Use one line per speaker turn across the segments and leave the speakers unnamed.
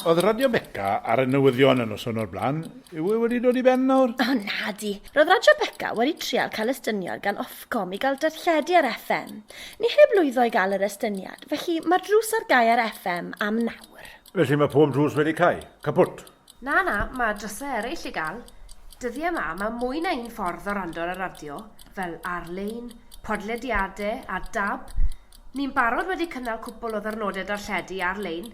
Oedd Radio Beca ar y newyddion yn noson o'r blaen. Yw e wedi dod i ben nawr? O, na di. Roedd Radio Beca wedi trial cael estyniad gan Ofcom i gael darlledu ar FM. Ni heb lwyddo i gael yr estyniad, felly mae'r drws ar gau ar FM am nawr. Felly mae pob drws wedi cau. Caput. Na, na, mae dros le eraill i gael. Dyddiau 'ma, mae mwy na un ffordd o rando ar y radio, fel ar-lein, podlediadau a dab. Ni'n barod wedi cynnal cwpwl o ddirnodau darlledu ar-lein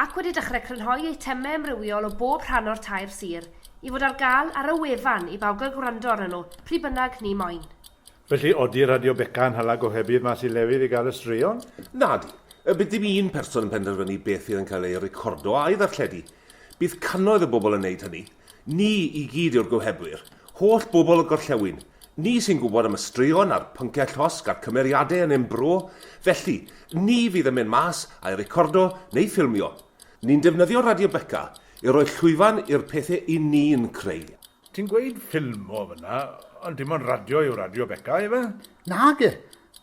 ac wedi dechrau crynhoi eitemau amrywiol o bob rhan o'r tair sir i fod ar gael ar y wefan i bawb gael gwrando arnyn nhw pryd bynnag ni moyn. Felly, odi Radio Beca yn hala gohebydd mas i lefydd i gael y straeon? Nadi. Bydd dim un person yn penderfynu beth fydd yn cael ei recordo a'i ddarlledu. Bydd cannoedd o bobl yn wneud hynny. Ni i gyd yw'r gohebwyr. Holl bobl y gorllewin. Ni sy'n gwybod am y straeon a'r pynciau llosg a'r cymeriadau yn ein bro. Felly, ni fydd yn mynd mas a'i recordo neu ffilmio. Ni'n defnyddio Radio Beca i roi llwyfan i'r pethau 'yn ni'n creu. Ti'n gweud ffilmo fan'na, ond dim ond radio yw Radio Beca, ife? Nage!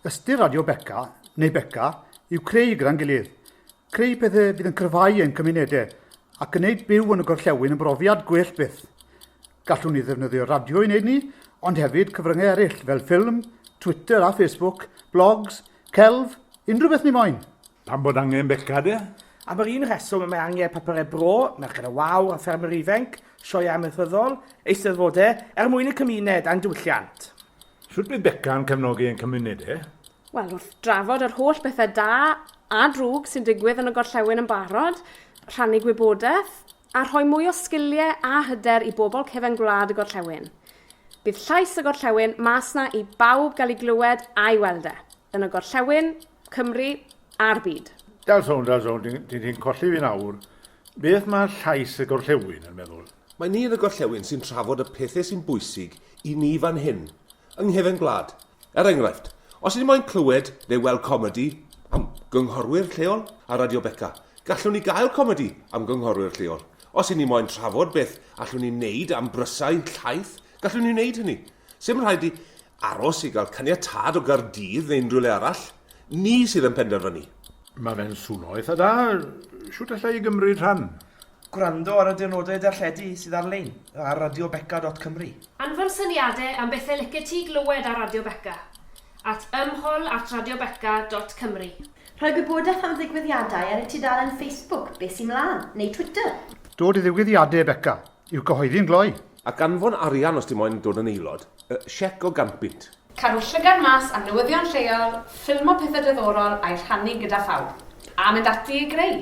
Ystyr Radio Beca, neu Beca, yw creu gyda'n gilydd. Creu pethau fydd yn cryfhau ein cymunedau a gwneud byw yn y gorllewin yn brofiad gwell byth. Gallwn ni ddefnyddio radio i wneud ni, ond hefyd cyfryngau eraill fel ffilm, Twitter a Facebook, blogs, celf, unrhyw beth ni moyn! Pam bod angen beca de? Am yr un rheswm y mae angen papurau bro, merched y wawr a ffermwyr ifainc, sioeau amaethyddol, eisteddfodau, er mwyn y cymuned a'n diwylliant. Sut bydd Beca yn cefnogi ein cymuned e? Wel, wrth drafod yr holl bethau da a drwg sy'n digwydd yn y gorllewin yn barod, rhannu gwybodaeth a rhoi mwy o sgiliau a hyder i bobl cefn gwlad y gorllewin. Bydd llais y gorllewin mas na i bawb gael ei glywed a'i weld e, yn y gorllewin, Cymru a'r byd. Dal sownd, dal sownd, ti'n colli fi'n awr. Beth mae llais y gorllewin yn meddwl? Mae ni yn y gorllewin sy'n trafod y pethau sy'n bwysig i ni fan hyn, yng nghefn gwlad. Er enghraifft, os ni moyn clywed neu weld comedi am gynghorwyr lleol ar Radio Beca, gallwn ni gael comedi am gynghorwyr lleol. Os ni moyn trafod beth allwn ni wneud am brysau llaeth, gallwn ni wneud hynny. Sdim rhaid i Aros i gael caniatâd o Gaerdydd neu unrhyw le arall? Ni sydd yn penderfynu. Mae fe'n swno eitha da. Shwt alla i gymryd rhan? Gwrando ar y diwrnodau darlledu sydd ar-lein ar radiobeca dot cymru. Anfon syniadau am bethau licet ti glywed ar Radio Beca at ymhol at radiobeca dot cymru. Rhoi gwybodaeth am ddigwyddiadau ar y tudalen Facebook Be Sy Mlaen? neu Twitter. Dod i ddigwyddiadau Beca! I'w gyhoeddi yn gloi. Ac anfon arian os ti moyn dod yn aelod. Y siec o ganpunt. Cadw llygad mas am newyddion lleol, ffilmo pethau diddorol a'u rhannu gyda phawb. A mynd ati i greu!